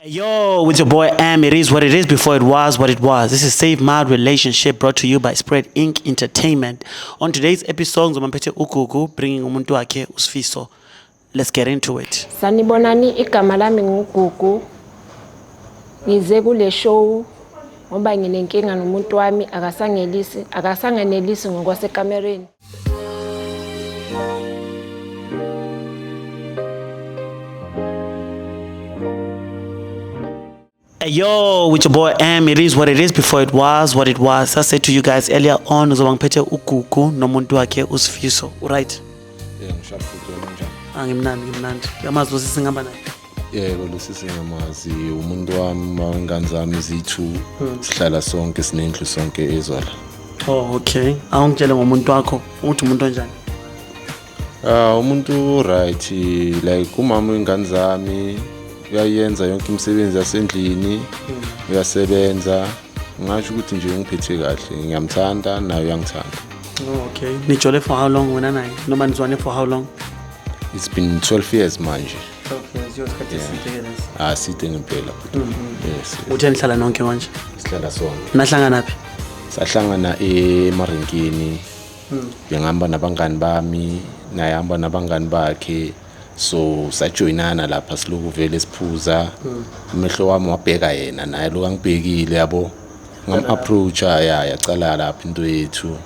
Yo, with your boy M, it is what it is before it was what it was. This is Save My Relationship brought to you by Spread Inc. Entertainment. On today's episode, ngizomamphethe uGugu bringing umuntu wakhe uSfiso. Let's get into it. Sanibonani igama lami nguGugu. Ngize kule show ngoba nginenkinga nomuntu wami akasangelisi akasangenelisi ngokwasekamereni. Hey yo, with your boy M, it is what it is before it was what it was. I said to you guys earlier on, uzoba ngiphethe uGugu nomuntu wakhe uSifiso, right? Yeah, ngishaphe futhi wena njani? Angimnandi, ngimnandi. Yamazi usisi ngihamba naye. yebo lusisi ngiyamazi umuntu wami uma ingane zami ziyi-two sihlala sonke sinendlu sonke ezwala oh okay awungitshele ngomuntu wakho ukuthi umuntu onjani Ah umuntu right like umama wengane zami uyayenza yonke imisebenzi yasendlini uyasebenza ngasho ukuthi nje ungiphethe kahle ngiyamthanda naye uyangithanda oh okay nijole for how long wena naye noma nizwane for how long it's been 12 years manje aside ah, ngempela mm, mm. uthe nihlala nonke manje sihlala sonke nahlangana phi sahlangana emarinkini mm. bengihamba nabangani bami naye hamba nabangani bakhe so sajoyinana lapha siloku vele siphuza amehlo wami wabheka yena naye loku angibhekile yabo ngam-approacha ya yacala lapha into yethu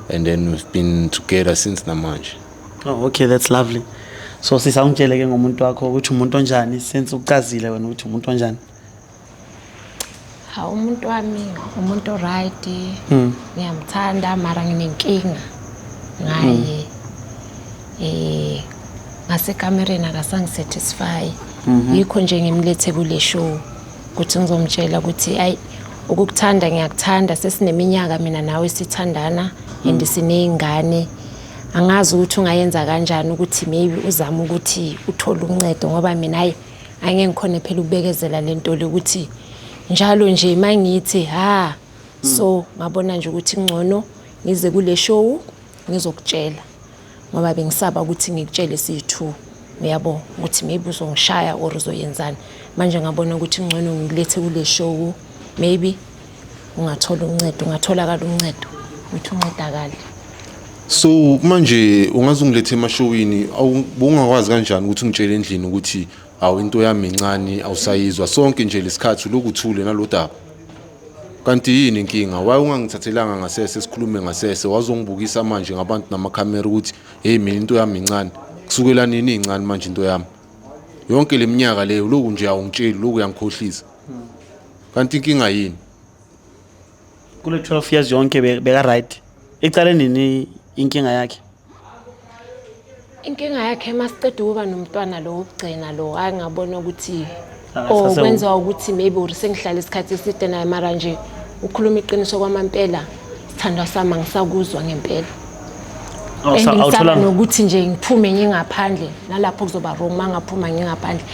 and then we've been together since namanje Oh, okay that's lovely so sisa ungitshele ke ngomuntu wakho ukuthi umuntu onjani since ucazile wena ukuthi umuntu onjani hawu umuntu wami umuntu oright hmm. ngiyamthanda mara nginenkinga ngaye hmm. eh ngasekamereni akasangisatisfy mhm. yikho nje ngimlethe kule show ukuthi ngizomtshela ukuthi ayi ukukuthanda ngiyakuthanda sesineminyaka mina nawe sithandana and mm. siney'ngane angazi ukuthi ungayenza kanjani ukuthi maybe uzame ukuthi uthole uncedo ngoba mina hayi angeke ngikhone phela ukubekezela le nto le ukuthi njalo nje uma ngithi ha hmm. so ngabona nje ukuthi kungcono ngize kule show ngizokutshela ngoba bengisaba ukuthi ngikutshele siyi-two uyabo ukuthi maybe uzongishaya or uzoyenzani manje ngabona ukuthi kungcono ngilethe kule show maybe ungathola uncedo ungatholakala uncedo ukuthi uncedakale so manje ungaze ungilethe emashowini awungakwazi kanjani ukuthi ungitshele endlini ukuthi awu into yami incane awusayizwa sonke nje lesikhathi lokhu thule nalodaba kanti yini inkinga waye ungangithathelanga ngasese sikhulume ngasese wazongibukisa manje ngabantu namakhamera ukuthi hey mina into yami incane kusukela nini incane manje into yami yonke leminyaka leyo lokhu nje awungitsheli lokhu uyangikhohlisa Hmm. Kanti inkinga yini? Kule 12 years yonke beka right. Icale nini inkinga yakhe? Inkinga yakhe masiqeda ukuba nomntwana lo wokugcina lo hayi ngabona ukuthi oh kwenza ukuthi maybe uri sengihlala isikhathi eside naye mara nje ukhuluma iqiniso kwamampela sithandwa sami angisakuzwa ngempela oh, and ngisaba nokuthi nje ngiphume ngingaphandle nalapho kuzoba wrong uma ngaphuma ngingaphandle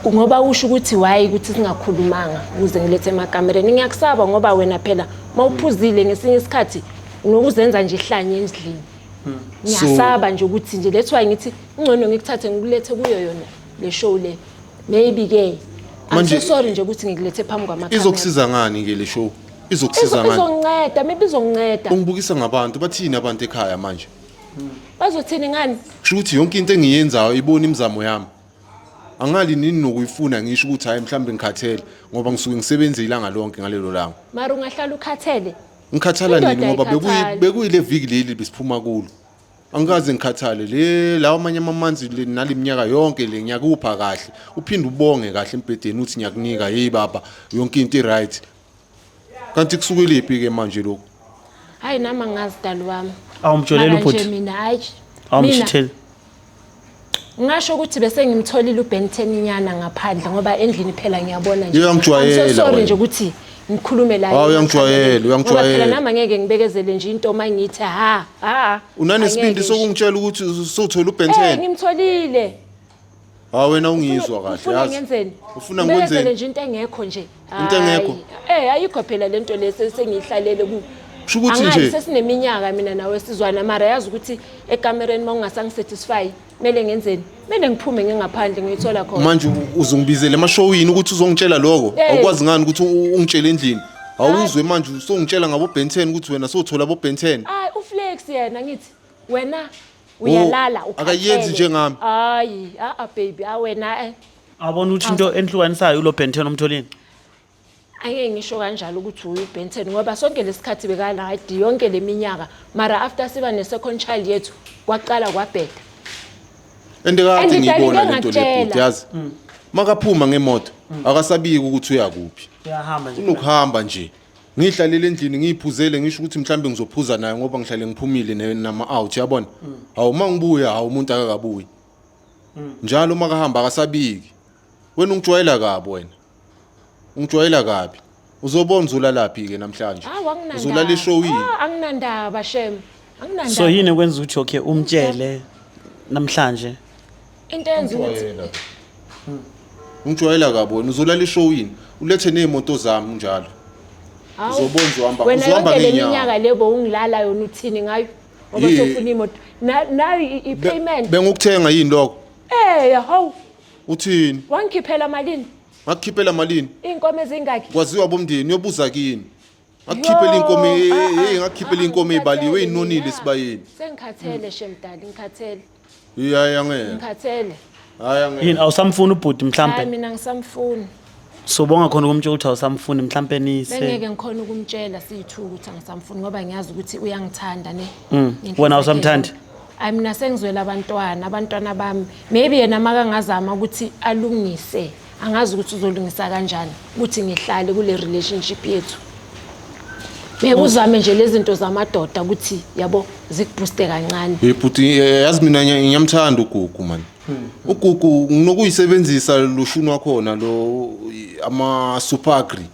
ngoba usho ukuthi wayi ukuthi singakhulumanga ukuze ngilethe emakamereni ngiyakusaba ngoba wena phela uma uphuzile ngesinye isikhathi unokuzenza nje ihlanye endlini hmm. ngiyasaba nje ukuthi nje that's why ngithi ingcono ngikuthathe ngikulethe kuyo yona le show le maybe ke I'm so sorry nje ukuthi ngikulethe phambi kwamakamera izokusiza ngani ke le show izokusiza ngani izonceda maybe izonceda ungibukisa ngabantu bathini abantu ekhaya manje bazothini ngani kusho ukuthi yonke into engiyenzayo ibona imizamo yami angali nini nokuyifuna ngisho ukuthi hayi mhlawumbe ngikhathele ngoba ngisuke ngisebenze ilanga lonke ngalelo langa mara ungahlala ukhathele ngikhathala nini ngoba bekuyile viki leli besiphuma kulo angikaze ngikhathale le lawa amanye amamanzi le nale minyaka yonke le ngiyakupha kahle uphinde ubonge kahle embhedeni uthi ngiyakunika hey baba yonke into i-right kanti kusukeliphi ke manje lokho hayi nami angazi dali wami awumjoleli Mara nje ubhuti mina hayi mina awumshitheli ngasho ukuthi bese ngimtholile ubenteni nyana ngaphandle ngoba endlini phela ngiyabona nje Yeye uyangijwayela I'm so sorry wena. nje ukuthi ngikhulume la Hawu, uyangijwayela, Ngoba uyangijwayela. phela nami angeke ngibekezele nje into uma ngithi ha ha unanesibindi angeke nje. sokungitshela ukuthi sothola Eh, ubhentene ngimtholile Hawu wena ungizwa kahle Ufuna yazi. ngenzeni? Ufuna Kumele ngikwenzeni? ngenzele nje into engekho nje. Into engekho? Hayi. Eh ayikho phela lento lesi sengiyihlalele ku. Kusho ukuthi Angazi, nje- sesineminyaka mina nawe sizwana mara yazi ukuthi ekamereni mawungasangisatisfy kumele ngenzeni? Kumele ngiphume ngingaphandle ngiyithola khona. Manje u- uzongibizela emashowini ukuthi uzongitshela lokho. Eh. Awukwazi ngani ukuthi u- ungitshele endlini. Awuzwe manje usongitshela ngabo Ben 10 ukuthi wena sothola abo Ben 10. Hayi uflex yena ngithi. wena uyalala Oh, akayenzi ukhathele. njengami. hayi a-a baby a wena eh. Awubona ukuthi into enihlukanisayo ulo Benton omtholini. angeke ngisho kanjalo ukuthi uye ubenton ngoba sonke lesikhathi beka-right yonke le minyaka mara after siba ne-second child yethu kwaqala kwabheda and kade And ngiyibona ngidalile lento ngatshela. lebhuti yazi makaphuma ngemoto akasabiki ukuthi uyakuphi Uyahamba nje. unokuhamba nje ngiyihlalele endlini ngiyiphuzele ngisho ukuthi mhlawumbe ngizophuza nayo ngoba ngihlale ngiphumile ne- nama-out yabona hawu uma ngibuya hawu umuntu akakabuyi njalo uma kahamba akasabiki wena ungijwayela kabi wena ungijwayela kabi uzobona uzolalaphi-ke namhlanje Hawu anginandaba. uzolala eshowini Ah, anginandaba shem. Anginandaba. so yini okwenza ukuthi okay umtshele namhlanje Into eyenza ukuthi Umjwayela. Hmm. Umjwayela kabi wena uzolala ishow yini? Ulethe nezimoto zami njalo. Hawu, Uzobona uzohamba- wena uzohamba yonke le ngeenyawo. minyaka le bowungilala yona uthini ngayo ngoba Yee. sofuna imoto Na- nayo i- Be- i-payment Bengukuthenga yini lokho? Eh, hawu Uthini? wangikhiphela malini Ngakukhiphela malini? iy'nkomo ezingakhi Kwaziwa bomndeni uyobuza kini. ngakukhiphela inkomo Yo, eh, ah, ah, hey ngakukhiphela ah, inkomo ezibaliwe ngikhathele inonile mina. esibayeni Sengikhathele shemdali, ngikhathele, hey hayi angeke ngikhathele. hayi angeke yini awusamfuni ubhuti Hayi mhlampe mina ngisamfuni. sobonga khona ukumtsho ukuthi awusamfuni mhlampe nise Bengeke ngikhona ukumtshela siyithu ukuthi angisamfuni ngoba ngiyazi ukuthi uyangithanda ne. Mm. Ngenhliziyo Wena awusamthandi? eyodwa. Hayi mina sengizwela abantwana, abantwana bami. Maybe yena makangazama ukuthi alungise angazi ukuthi uzolungisa kanjani ukuthi ngihlale kule relationship yethu ngeke uzame nje lezi zinto zamadoda ukuthi yabo zikubhuste kancane hey bhuti eh, yazi mina ngiya- ngiyamthanda ugugu mani ugugu nginokuyisebenzisa lushuni wakhona lo i- ama-supagri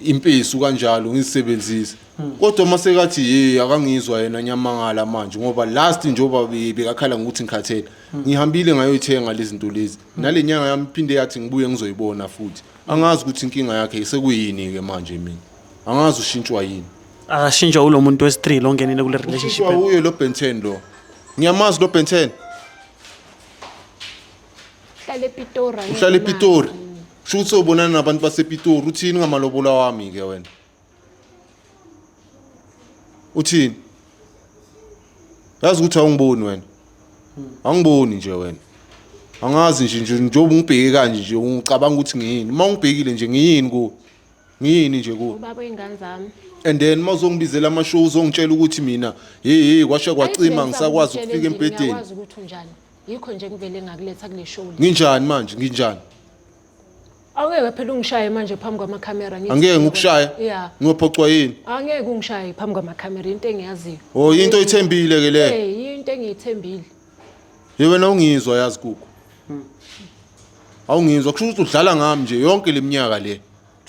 impesu kanjalo ngizisebenzise kodwa uma sekathi ye akangizwa yena ngiyamangala manje ngoba last njengoba be- bekakhala ngokuthi ngikhathele ngihambile ngayoyithenga lezi zinto lezi nale nyanga yami phinde yathi ngibuye ngizoyibona futhi angazi ukuthi inkinga yakhe isekuyini-ke manje mina angazi ushintshwa yini akashintshwa ulo muntu wesi-three lo ngenile kule relationship ushintshwa yakhe. wuye lo benten lo ngiyamazi lo benten Uhlala ePitori. uhlala epitori sho ukuthi sobonana nabantu basepitori uthini ngamalobolo awami-ke wena uthini yazi ukuthi awungiboni wena angiboni nje wena angazi nje nje njengoba ungibheke kanje nje ungicabanga ukuthi ngiyini uma ungibhekile nje ngiyini kuwe ngiyini nje kuwe ubaba oyingane zami and then uma uzongibizela amashow uzongitshela ukuthi mina hey hey kwasha kwacima ngisakwazi ukufika embhedeni ngikwazi ukuthi unjani yikho nje ngivele ngakuletha kule show nginjani manje nginjani Awungeke phela ungishaye manje phambi kwamakhamera ngithi. Angeke ngikushaya. Yeah. Ngiyophoxwa yini? Angeke ungishaye phambi kwamakhamera into engiyaziyo. Oh, into oyithembile ke le. Hey, into engiyithembile. Ye wena ungizwa yazi kuku. Awungizwa kusho ukuthi udlala ngami nje yonke leminyaka le.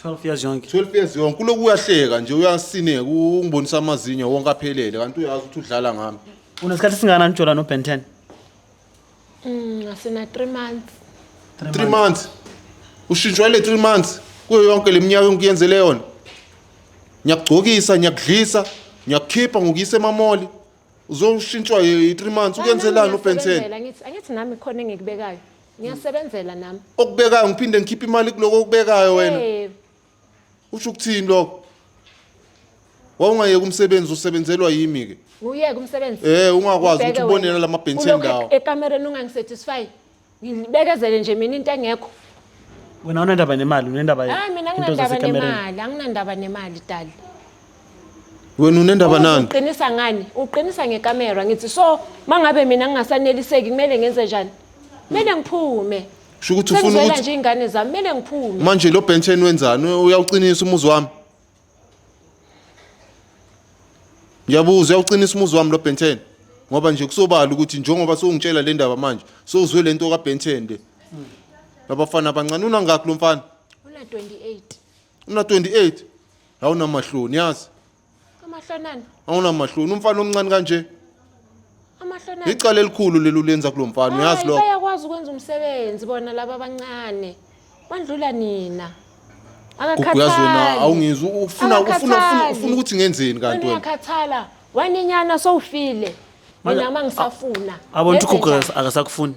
12 years yonke 12 years yonke kuloku uyahleka nje uyasineka ungibonisa amazinyo wonke aphelele kanti uyazi ukuthi udlala ngami. unesikhathi singana njola no ben 10 Mm, sina 3 months. Three months. Ushintshwa le three months kuyo yonke le minyaka engikuyenzele yona. Ngiyakugcokisa, ngiyakudlisa, ngiyakukhipha ngokuyisa emamoli. Uzoshintshwa i three months ukwenzelani uBenson? Ngiyasebenzela, Angithi angithi nami khona engikubekayo. Ngiyasebenzela nami. Okubekayo ngiphinde ngikhiphe imali kuloko okubekayo wena. Eh, usho ukuthini lokho wawungayeka umsebenzi usebenzelwa yimi ke uyeke umsebenzi eh ungakwazi ukuthi ubonela lama bench endawo ekamereni ungangisatisfy ngibekezele nje mina into engekho wena unendaba nemali unendaba hayi mina nginendaba nemali anginendaba nemali dali wena unendaba nani uqinisa ngani uqinisa ngekamera ngithi so mangabe mina ngingasaneliseki kumele ngenze njani kumele ngiphume Sho ukuthi ufuna Sengizwela ukuthi nje ingane zami kumele ngiphume. manje lo benchen wenzani? Uyawuqinisa umuzi wami? Ngiyabuza uyawuqinisa umuzi wami lo benchen? Ngoba nje kusobala ukuthi njengoba sewungitshela le ndaba manje, sewuzwe lento ka benchen le. Labafana abancane unangakhi lo mfana? Una 28. Una 28. Awunamahloni yazi. amahlonana awunamahloni umfana omncane kanje amahlonana icala elikhulu leli ulenza kulo mfana uyazi Hayi, lokho bayakwazi ukwenza umsebenzi bona laba abancane bandlula nina Gugu yazi wena akakhathali awungizwa ufuna ufuna ufuna Akakhathali. ufuna ukuthi ngenzeni wena kanti wena uyakhathala waninyana sowufile Manje, mina uma ngisafuna Abona ukuthi Ngenze ugogo njani? akasakufuni.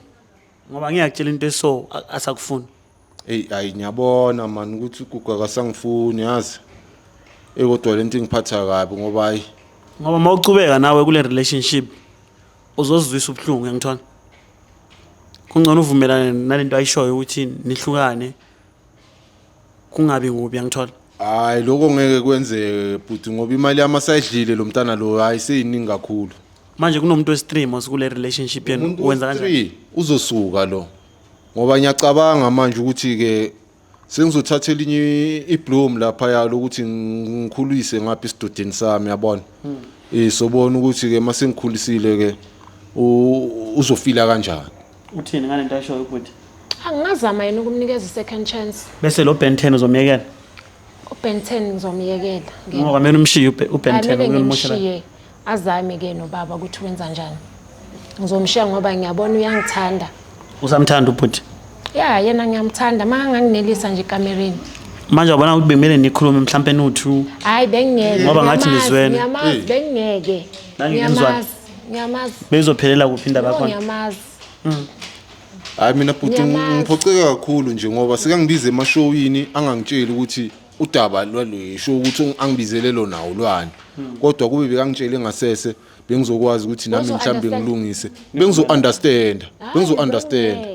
Ngoba ngiyakutshela into eso a- asakufuni. eyi ayi ngiyabona mani ukuthi ugugu akasangifuni yazi eyi kodwa le nto ingiphatha kabi ngoba hayi ngoba uma ucubeka nawe kule relationship uzozizwisa ubuhlungu yangithona kungcono uvumelane nale nto ayishoyo ukuthi nihlukane kungabi kubi yangithola hayi lokho ngeke kwenzeke bhuti ngoba imali yami asayidlile lo mntana lo hayi seyiningi kakhulu manje kunomuntu wesitream osikule relationship yenu umuntu wenza kanjani wesithree uzosuka lo ngoba ngiyacabanga manje ukuthi-ke sengizothatha elinye ibloom laphaya lokuthi ngikhulise ngapha esidodeni sami yabona um hmm. sobona ukuthi-ke uma sengikhulisile-ke uzofila kanjani uthini ngale nto ashoyo ukuthi angingazama yena ukumnikeza i-second chance bese lo ben ten uzomyekela ubenten ngizomyekela ngoba kumele umshiye ubenten Azame ke nobaba ukuthi wenza njani. Ngizomshiya ngoba ngiyabona uyangithanda. Usamthanda ubhuti? Ya, yena ngiyamthanda. Maka nganginelisa nje kamereni. Manje wabona ukuthi bemele nikhulume mhlampe no two. Hayi bengingeke. Ngoba ngathi ngiyamazi, nizwene. Ngiyamazi bengingeke. Nange nizwane. Ngiyamazi. Ngiyamazi. Bezophelela kuphi indaba No, yakhona? ngiyamazi. hayi mina bhuti Ngiyamazi. ngiphoxeka kakhulu nje ngoba sekangibiza emashowini angangitsheli ukuthi udaba lwaluyisho ukuthi angibizele lona ulwane hmm. kodwa kube bekangitshele ngasese bengizokwazi ukuthi nami mhlawumbe ngilungise bengizo-understanda bengizo-understanda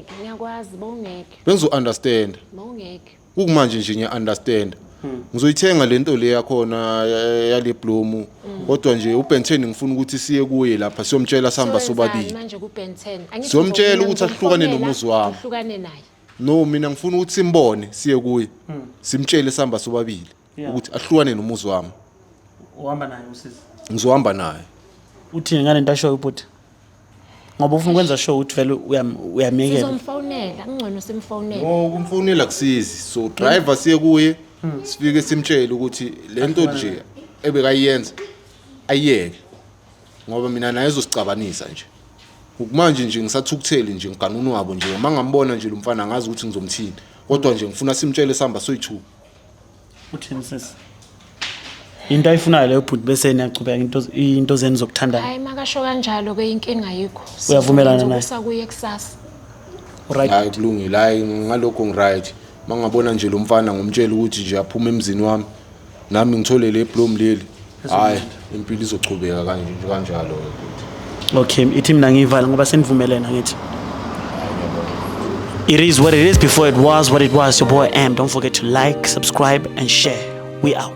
bengizo-understanda kukumanje nje ngiya-understanda hmm. ngizoyithenga le nto le yakhona eh, yale blomu hmm. kodwa nje ubenten ngifuna ukuthi siye kuye lapha siyomtshela sihamba sobabili siyomtshela ukuthi ahlukane nomuzi wami no mina ngifuna ukuthi simbone siye kuye hmm. simtshele sihamba sobabili ukuthi ahlukane nomuzi wami uhamba naye usisi ngizohamba naye uthini ngale nto ashoyo ubhuti ngoba ufuna ukwenza sure ukuthi vele uyamyekela sizomfonela kungcono simfonele no ukumfonela kusizi so driver siye kuye hmm. sifike simtshele ukuthi le nto nje ebekayenza ayiyeke ngoba mina naye ezosicabanisa nje ukumanje nje ngisathukutheli nje ngigana unwabo nje uma ngambona nje lo mfana ngazi ukuthi ngizomthini kodwa nje ngifuna simtshele sihamba soyi-two uthini sisi into ayifunayo leyo bhuti bese niyachubeka into into zenu zokuthandana hayi makasho kanjalo ke inkinga yikho Uyavumelana naye? sakuye kusasa right hayi kulungile hayi ngalokho ngiright uma ngabona nje lo mfana ngomtshela ukuthi nje aphume emzini wami nami ngithole le blom leli hayi impilo izochubeka kanje nje kanjalo okay ithi mina ngiyivala ngoba senivumelene ngithi It is what it is before it was what it was. Your boy M. Don't forget to like, subscribe, and share. We out.